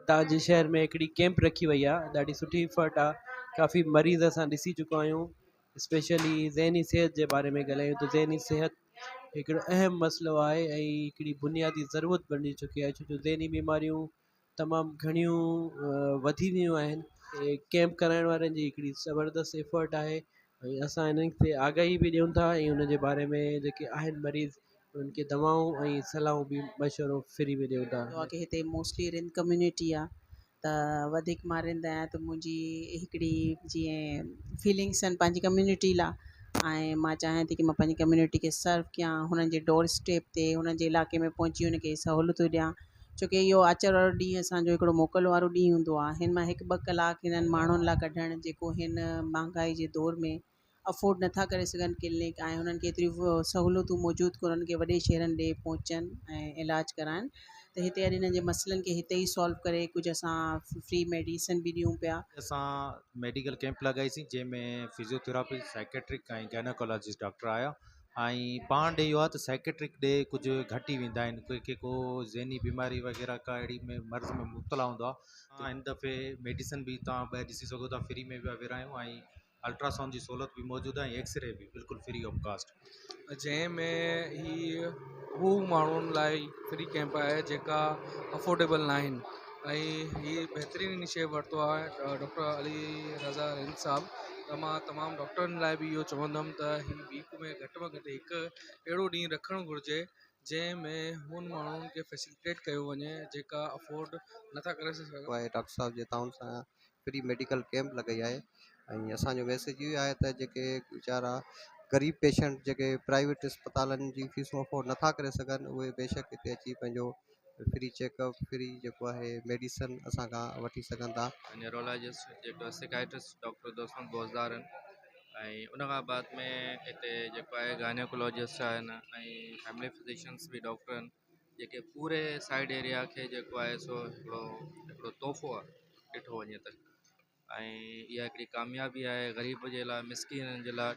توهان جي شهر ۾ هڪڙي ڪيمپ رکي وئي آهي ڏاڍي سٺي افرٽ آهي ڪافي مريض اسان ڏسي چڪا آهيون اسپيشلي ذهني صحت جي باري ۾ ڳالهايون ته ذهني صحت هڪڙو اهم مسئلو آهي ۽ هڪڙي بنيادي ضرورت بنجي چڪي آهي ڇو جو ذهني بيماريون تمام گهڻيون وڌي ويون آهن ڪيمپ ڪرائڻ وارن جي هڪڙي زبردست افرٽ آهي ۽ اسان انهن تي آگاهي به ڏيون ٿا ۽ ان جي باري ۾ جيڪي آهن مريض انهن کي دوائون ۽ صلاحون به مشورو فري ۾ ڏيون ٿا. ڪيون ڪي هتي موسٽلي رند ڪميونٽي آ ته وڌيڪ مان رند آهيان ته منهنجي هڪڙي جيئن فيلنگس آهن پنهنجي ڪميونٽي لا ۽ مان چاهيان ٿي ڪي مان پنهنجي ڪميونٽي کي سرو ڪيان هنن جي ڊور اسٽيپ تي هنن جي علائقي ۾ پهچي هن کي سهولتون ڏيان ڇو ڪي اهو آچر وارو ڏينهن اسان جو هڪڙو موڪل وارو ڏينهن هوندو آهي هن مان هڪ ٻه ڪلاڪ هنن ماڻهن لاء ڪڍڻ جيڪو هن مهانگائي جي دور ۾ افورڊ نٿا ڪري سگهن ڪلنڪ آهي هنن کي ايتريون سهولتون موجود ڪونهن هنن کي وڏي شهرن ڏي پهچن ۽ علاج ڪرائن ته هتي اڄ هنن جي مسئلن کي هتي ئي سالو ڪري ڪجهه اسان فري ميڊيسن به ڏيون پيا. اسان ميڊيڪل ڪيمپ لڳائي سين جنهن ۾ physiotherapy psychiatric ۽ gynaecologist doctor آيا ۽ پاڻ ڏي اهو آهي ته سائڪيٽرڪ ڏي ڪجهه گهٽي ويندا آهن ڪي ڪي ڪو ذهني بيماري وغيره ڪا اهڙي ۾ مرض ۾ مبتلا هوندو آهي ته هن دفعي ميڊيسن بي توهان ٻاهر ڏسي سگهو ٿا فري ۾ پيا ورهايون ۽ الٽراسائونڊ جي سهولت بي موجود آهي ۽ ايڪس ري بي بلڪل فري آف ڪاسٽ جنهن ۾ هي هو ماڻهن لاء فري ڪيمپ آهي جيڪا افورڊيبل نه آهن ۽ هي بهترين انيشيو ورتو آهي ڊاڪٽر علي رضا رند صاحب ته مان تمام ڊاڪٽرن لاء بي اهو چوندم ته ويڪ ۾ گهٽ ۾ گهٽ هڪ اهڙو ڏينهن رکڻ گهرجي جنهن ۾ انهن ماڻهن کي فيسلٽيٽ ڪيو وڃي جيڪا افورڊ نٿا ڪري سگهن. آهي ڊاڪٽر صاحب جي تعاون سان فري ميڊيڪل ڪيمپ لڳائي آهي ۽ اسان جو ميسيج اهو آهي ته جيڪي ويچارا غريب پيشنٽ جيڪي پرائيويٽ اسپتالن جي فيسون افورڊ نٿا ڪري سگهن اهي بيشڪ هتي اچي پنهنجو فري چيڪ اپ فري جيڪو آهي ميڊيسن اسان کان وٺي سگهن ٿا. نيورولاجسٽ جيڪو سيڪائٽرسٽ ڊاڪٽر دوستم بوزدار آهن ۽ ان کان بعد ۾ هتي جيڪو آهي گائنيوڪولوجسٽ آهن ۽ فيملي فزيشنس به ڊاڪٽر آهن جيڪي پوري سائيڊ ايريا کي جيڪو آهي سو هڪڙو هڪڙو تحفو آهي ڏٺو وڃي ته ۽ اها هڪڙي ڪاميابي آهي غريب جي لاء مسڪينن جي لاء